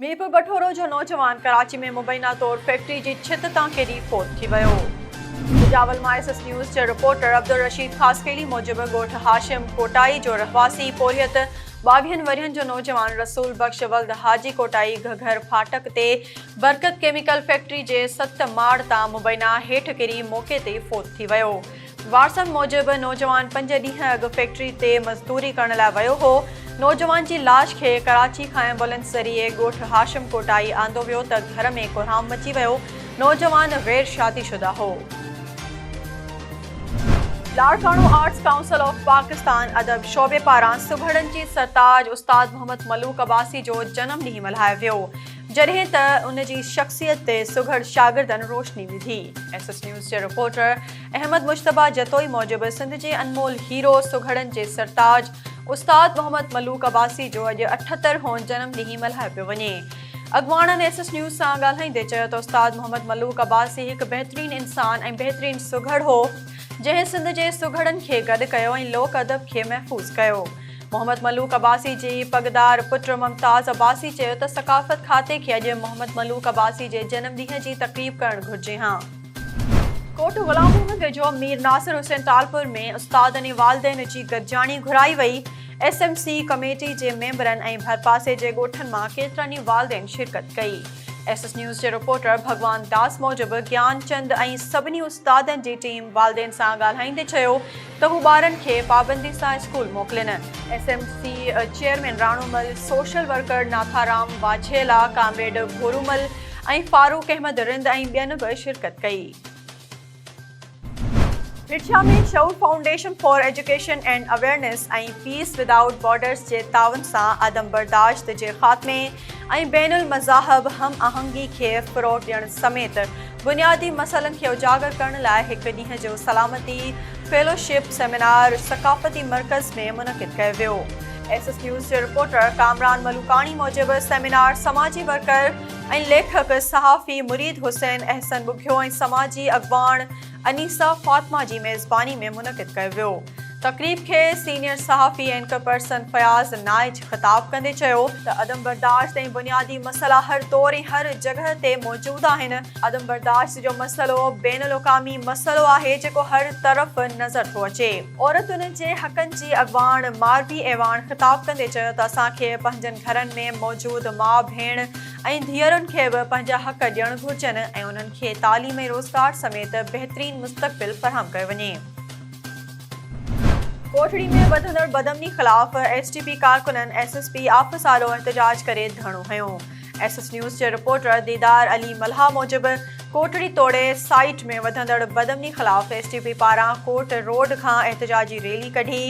ميرپوربٺورو جو نوجوان ڪراچي ۾ مبينا طور فيڪٽري جي ڇت تان ڪري فوت ٿي ويو. بجاول مان ايس ايس نيوز جي رپورٽر عبدالرشيد خاصخيلي موجب ڳوٺ هاشم ڪوٽائي جو رهواسي پورهيت ٻاويهن ورهين جو نوجوان رسول بخش ولد حاجي ڪوٽائي گهگهر ڦاٽڪ تي برڪت ڪيميڪل فيڪٽري جي ست ماڙ تان مبينا هيٺ ڪري موقعي تي فوت ٿي ويو. وارثن موجب نوجوان پنج ڏينهن اڳ فيڪٽري تي مزدوري ڪرڻ لاء ويو هو. نوجوان جي لاش کي ڪراچي کان ايمبولنس ذريعي ڳوٺ هاشم ڪوٽائي آندو ويو ته گهر ۾ ڪوهرام مچي ويو. نوجوان غير شادي شده هو. Larkana arts council of Pakistan ادب شعبي پاران سگهڙن جي سرتاج استاد محمد ملوڪ عباسي جو جنم ڏينهن ملهايو ويو. جڏهن ته ان جي شخصيت تي سگهڙ شاگردن روشني وڌي. ايس ايس نيوز جي رپورٽر احمد مجتبيٰ جتوئي موجب سنڌ جي انمول هيرو سگهڙن جي سرتاج استاد محمد ملوڪ عباسي جو اڄ اٺهتر هون جنم ڏينهن ملهايو پيو وڃي. اڳواڻن ايس ايس نيوز سان ڳالهائيندي چيو ته استاد محمد ملوڪ عباسي هڪ بهترين انسان ۽ بهترين سگهڙ هو جنهن سنڌ جي سگهڙن کي گڏ ڪيو ۽ لوڪ ادب کي محفوظ ڪيو. محمد ملوڪ عباسي جي پڳدار پٽ ممتاز عباسي چيو ته ثقافت کاتي کي اڄ محمد ملوڪ عباسي جي جنم ڏينهن جي تقريب ڪرڻ گهرجي ها. ڪوٽ غلام محمد ويجهو مير ناصر حسين ٽالپر ۾ استادن ۽ والدين جي گڏجاڻي گهرائي وئي، ايس ايم سي ڪميٽي جي ميمبرن ۽ ڀرپاسي جي ڳوٺن مان ڪيترن ئي والدين شرڪت ڪئي. ايس ايس نيوز جي رپورٽر ڀڳوان داس موجب گيان چند ۽ سڀني استادن جي ٽيم والدين سان ڳالهائيندي چيو ته هو ٻارن کي پابندي سان اسڪول موڪلين. S M C chairman Ranumal, social worker Natharam Wajhela, comrade Bhoromal ۽ Farooq Ahmed Rind ۽ ٻين به شرڪت ڪئي. رٺيا ۾ Shaoor foundation for education and awareness ۽ peace without borders جي تعاون سان عدم برداشت جي خاتمي، ۽ بين المذاهب هم آهنگي کي فروغ ڏيڻ سميت بنيادي مسئلن کي اجاگر ڪرڻ لاء هڪ ڏينهن جو سلامتي فيلوشپ سيمينار ثقافتي مرڪز ۾ منعقد ڪيو ويو. ايس ايس نيوز جي رپورٽر ڪامران ملوڪاڻي موجب سيمينار سماجي ورڪر ۽ ليکڪ صحافي مريد حسين احسن ٻگهيو ۽ سماجي اڳواڻ انيسه فاطمه جي ميزباني ۾ منعقد ڪيو ويو. تقريب کي سينيئر صحافي اينڪر پرسن فياض نائچ خطاب ڪندي چيو ته عدم برداشت ۽ بنيادي مسئلا هر دور ۽ هر جڳهه تي موجود آهن، عدم برداشت جو مسئلو بين الاقامي مسئلو آهي جيڪو هر طرف نظر ٿو اچي. عورتن جي حقن جي اڳواڻ ماروي اعواڻ خطاب ڪندي چيو ته اسان کي پنهنجن گهرن ۾ موجود ماء ڀيڻ، ۽ ڌيئرن کي به پنهنجا حق ڏيڻ گهرجن ۽ انهن کي تعليم ۽ روزگار سميت بهترين مستقبل فراهم ڪيو وڃي. ڪوٽڙي ۾ وڌندڙ بدامني خلاف ايس ٽي پي ڪارڪنن ايس ايس پي آفيس آڏو احتجاج ڪري ڌرڻو هنيو. ايس ايس نيوز جي رپورٽر ديدار علي ملهاء موجب ڪوٽڙي توڙي سائيٽ ۾ وڌندڙ بدامني خلاف ايس ٽي پي پاران ڪورٽ روڊ کان احتجاجي ريلي ڪڍي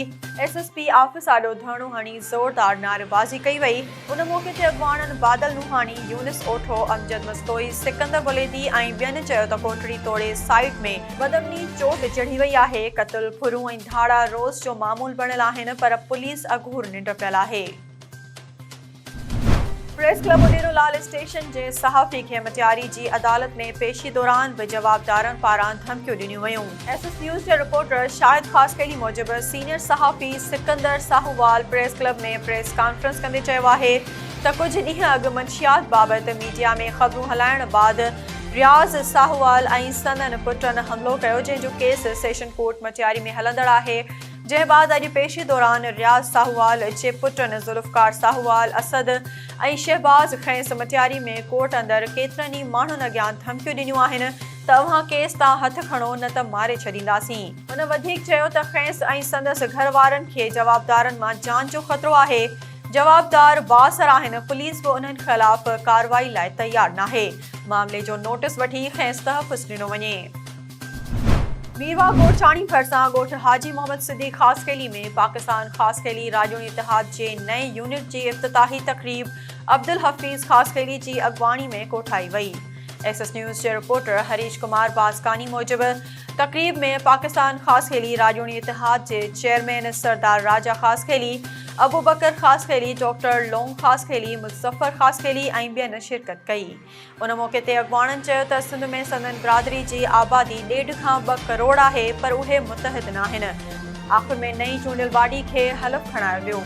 ايس ايس پي آفيس آڏو ڌرڻو هڻي زوردار نعريبازي ڪئي وئي. ان موقعي تي اڳواڻن بادل نوحاڻي، يونس اوٺو، امجد مستوئي، سڪندر بليدي ۽ ٻين چيو ته ڪوٽڙي توڙي سائيٽ ۾ بدامني چوٽ چڙهي وئي آهي، قتل، ڦرون ۽ ڌاڙا روز جو معمول بڻيل آهن پر پوليس اگهور ننڊ پيل آهي. Press club Adero Lal station جي صحافي کي مٽياري جي عدالت ۾ پيشي دوران به جوابدارن پاران ڌمڪيون ڏنيون ويون. ايس ايس نيوز جي رپورٽر شاهد خاصخيلي موجب سينيئر صحافي Sikandar Sahowal press club ۾ press conference ڪندي چيو آهي ته ڪجهه ڏينهن اڳ منشيات بابت ميڊيا ۾ خبرون هلائڻ بعد رياض ساهووال ۽ سندن پٽن حملو ڪيو جنهن جو ڪيس سيشن ڪورٽ مٽياري ۾ هلندڙ آهي جنهن بعد اڄ پيشي دوران رياض ساهووال جي پٽن ذوالفقار ساهووال اسد ۽ شهباز کيس مٽياري ۾ ڪورٽ اندر ڪيترن ئي ماڻهن اڳيان ڌمڪيون ڏنيون آهن ته اوهان ڪيس تان هٿ کڻو نه ته ماري ڇڏينداسين. هن وڌيڪ چيو ته کيس ۽ سندس گهر وارن کي جوابدارن مان جان جو خطرو آهي، جوابدار بااثر آهن، پوليس به انهن خلاف ڪارروائي لاء تيار ناهي، معاملي جو نوٽس وٺي کيس تحفظ ڏنو وڃي. ميرواهه گورچاڻي ڀرسان ڳوٺ حاجي محمد صديق خاصخيلي ۾ پاڪستان خاصخيلي راڄوڻي اتحاد جي نئين يونٽ جي افتتاحي تقريب عبدالحفيظ خاصخيلي جي اڳواڻي ۾ ڪوٺائي وئي. ايڪسس نيوز جي رپورٽر هريش ڪمار واسڪاني موجب تقريب ۾ پاڪستان خاصخيلي راڄوڻي اتحاد جي چيئرمين سردار راجا خاصخيلي، ابوبڪر خاصخيلي، ڊاڪٽر لونگ خاصخيلي، مظفر خاصخيلي ۽ ٻين شرڪت ڪئي. ان موقعي تي اڳواڻن چيو ته سنڌ ۾ سندن برادري جي آبادي ڏيڍ کان ٻه ڪروڙ آهي پر اهي متحد ناهن. آخر ۾ نئين چونڊيل باڊي کي حلف کڻايو ويو.